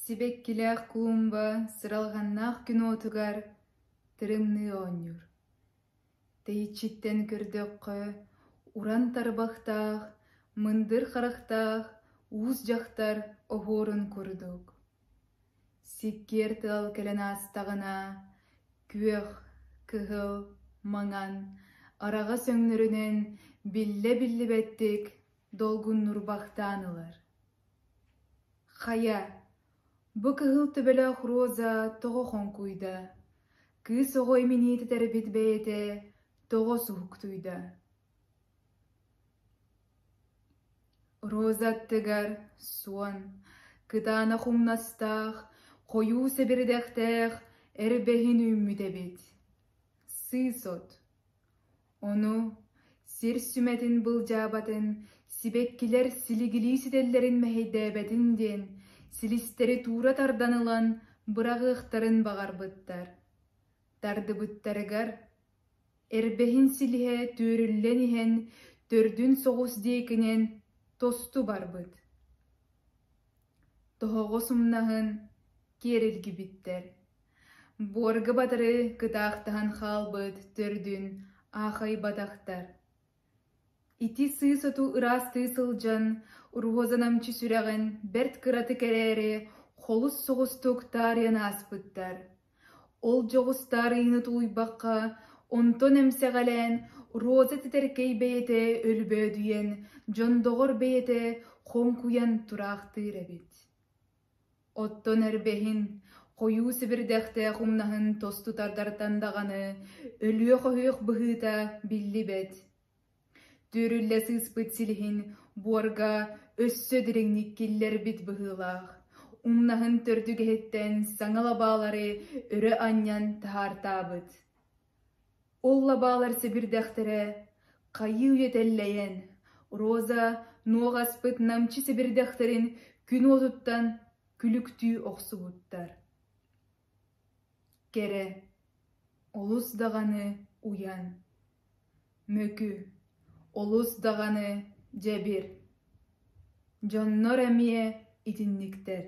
Сибэккилээх Куумба сыралҕаннаах күн уотугар тырымныы оонньуур. Тэйиччиттэн көрдөххө, уран тарбахтаах, мындыр харахтаах уус дьахтар оһуорун курдук. Сиккиэр тыал кэлэн аастаҕына, күөх, кыһыл, маҥан, араҕас өҥнөрүнэн биллэ биллибэттик долгуннурбахтаан ылар хайа бу кыһыл төбөлөөх роза тоҕо хоҥкуйда кыыс оҕо иминиэтэ тэрбит бэйэтэ тоҕо суһуктуйда роза аттыгар суон кытаанах умнастаах хойуу сэбирдэхтээх эрбэһин үүммүт эбит сыыс от Ону, сир сүмэтин былдьаабатын, сибэккилэр силигилии ситэллэрин мэһэйдээбэтин диэн, силистэри туура тардан ылан быраҕыахтарын баҕарбыттар. Тардыбыттарыгар, эрбэһин силиһэ түөрүллэн иһэн, төрдүн соҕус диэкинэн тосту барбыт. Тоһоҕос умнаһын киэрилгибиттэр Буорга батары кытаахтаһан хаалбыт төрдүн аахайбатахтар ити сыы-соту ыраастыы сылдьан Роза намчы сүрэҕин бэрт кыратык эрээри холус соҕустук таарыйан ааспыттар ол дьоҕус таарыйыыны тулуйбакка онтон эмсэҕэлээн Роза титэркэй бэйэтэ өлбөөдүйэн дьондоҕор бэйэтэ хоҥкуйан тураахтыыр эбит Оттон эрбэһин, хойуу сибирдэхтээх умнаһын тосту тардартан даҕаны өлүөх-оһүөх быһыыта биллибэт. Түөрүллэ сыыспыт силиһин буорга өссө дириҥник киллэрбит быһыылаах, умнаһын төрдүгэһиттэн саҥа лабаалары өрө анньан таһаартаабыт Ол лабаалар сибирдэхтэрэ хайыы этэллэйэн, Роза нуох аспыт намчы сибирдэхтэрин күн уотуттан күлүктүү охсубуттар Кэрэ, олус даҕаны уйан, мөкү, олус даҕаны дьэбир, дьоннор эмиэ итинниктэр